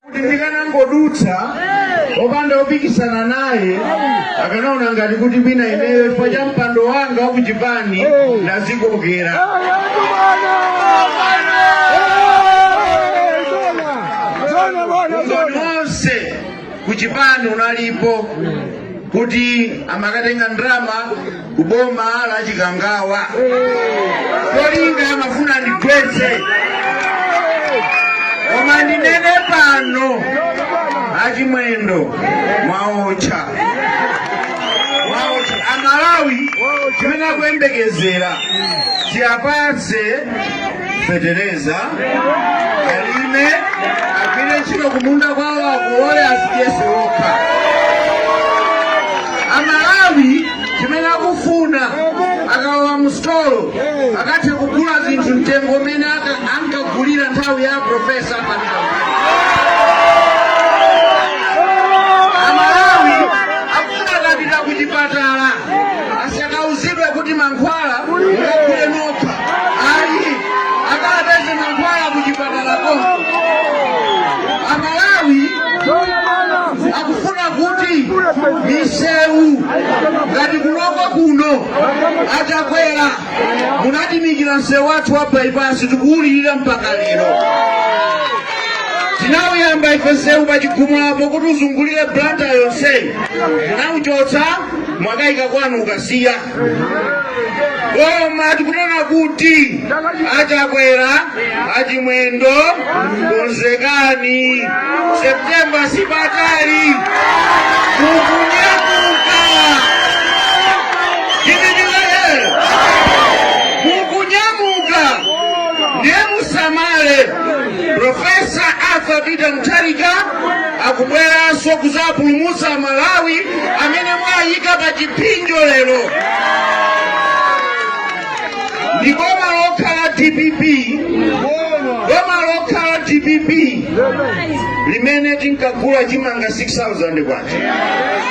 kuti ndikanangodutsa opanda opikisana naye akanaona ngati kuti bwina ineyo chifukwa cha mpando wanga wa kuchipani ndazikokera umboni wonse kuchipani unalipo kuti amakatenga ndalama kuboma la Chikangawa cholinga amafuna ndigwetse koma ndinene pano achimwendo mwaotcha mwaotcha amalawi chimene akuyembekezera tiwapatse fetereza alime agwire ntchito kumunda kwawo akuole azidyetse okha amalawi chimene akufuna akalowa mu sitolo akathe kugula zinthu mtengo umene aka- ankagulira nthawi ya profesa panao amalawi akufuna akapita ku chipatala sakauzidwe kuti mankhwala mukagule nokha ayi akapeze mankhwala kuchipatala konko amalawi akufuna kuti misewu ngati ku Lilongwe kuno a Chakwera munatiimikira msewu wathu wa bypass tikuwulirira mpaka lero tinawuyamba ife msewu pa Chigumulapo kuti uzungulire Blantyre yonseyi munawuchotsa mwakaika kwanu ku Kasiya koma tikunena kuti a Chakwera achimwendo konzekani septemba sipatali mukunyamuka chinichilaye mukunyamuka ndiye musamale profesa arthur peter mutharika akubweranso kuzapulumutsa malawi amene mwayika pa chipsinjo lero ndi boma lokhalo dpp boma lokhalo dpp limene tinkagula chimanga 6000 kwacha